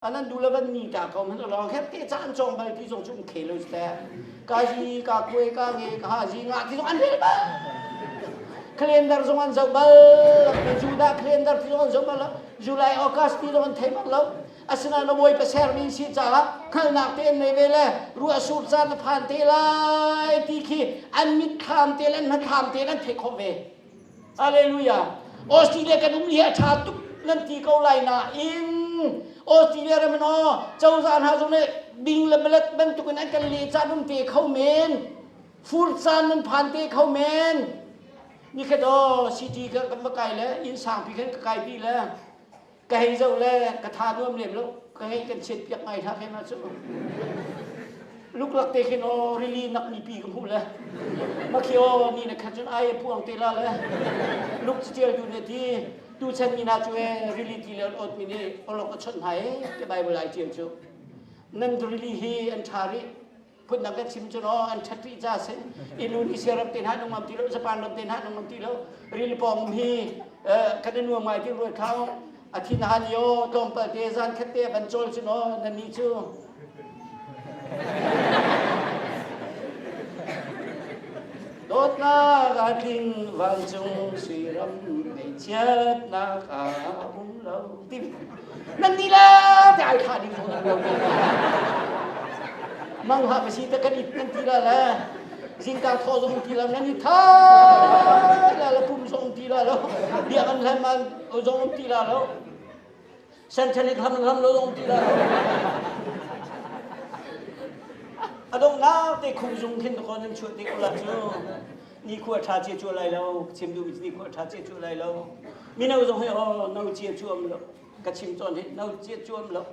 anan du le van ni ka ko man lo hep ke chan chong bal pi zong chu um khelo sta ka ji ka kue ka nge ka ha ji nga ti zong an hel ba calendar zong an zau bal pi juda calendar ti zong an zau bal july august ti zong an thei bal lo asina na boi paser mi si cha la khal nak te nei ve le ru asur cha la phan te lai ti khi an mit tham te le an man tham te an thei kho ve Hallelujah. Australia kan um hi a ṭha tuk nan ti ko lai nain Australia ram in aw cozah hna zong nih bing le malet bantukin an kan lehcah nan pe kho men. Furcaan nan phan te kho men. Ni khat aw city kan va kai le inn sangpi khan ka kai pi le ka hei zoh le ka tha nuam lem lo ka hei kan chiat piak ngai hla khe ma cu luklak te khin o rili nak mi pi ka hmuh le makhi o ni na khat cun ai pu ang te la le luk ci tial du ne ti tu chan mi na cu e rili ti le ot mi ne olok a chon hai ke bible ai tial cu nan rili hi an tha ri phun dang ka chim cu no an ṭhat rih ca si inu nih sia ram te hna nung ngam ti lo japan ram te hna nung ngam ti lo ril pawng hi kan i nuam ngai ti rual thau a thi na han yo tlawmpal te zan khat te van cawl cu no na ni cu dawtnak a tling vancung suiram ngeichiatnak a um lo ti nan nih le te ai thah ding ko mang ha ka si ta kan it nan ti la le zingkar thaw zong ti la nan i tha la la pum zong ti la lo bia kan hlan man o zong ti la lo santanic ham ham lo zong ti la lo adong nau te khung zung khin ko nan chuat te ko la cu nikhua tha cia cuah lai lo chim duh nikhua tha cia cuah lai lo mino zong hi oh no cia cuam lo ka chim tawn hi no cia cuam lo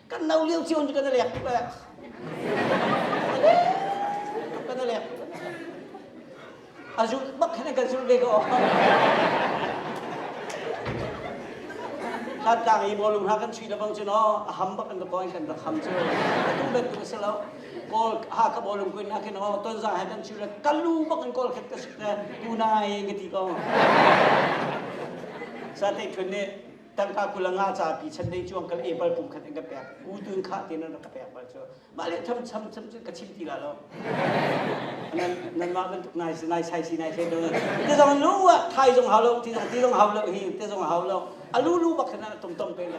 kan no lio cio kan lek kan lek a zul bak khan kan zul ve ko hlat tlang i mawlung ha kan chui da bang chu no a ham bak kan ka koi kan ka kham chu a tu ben tu se lo kawl hakap olum kuin na ken o ton za he dan chule kalu bak in kawl khet ka sik te tu nai ka ti ko sa te khun ne tangka kulanga cha pi chan nei chuang kal epal pu khat in ka pek u tun kha te nan ka pek bal chu ma le tham cham cham chu ka chim ti la lo nan nan ma ban tuk nai nai sai si nai se do te zong lu wa thai zong hau lo ti zong ti zong hau lo hi te zong hau lo alu lu bak khana tum tum pe la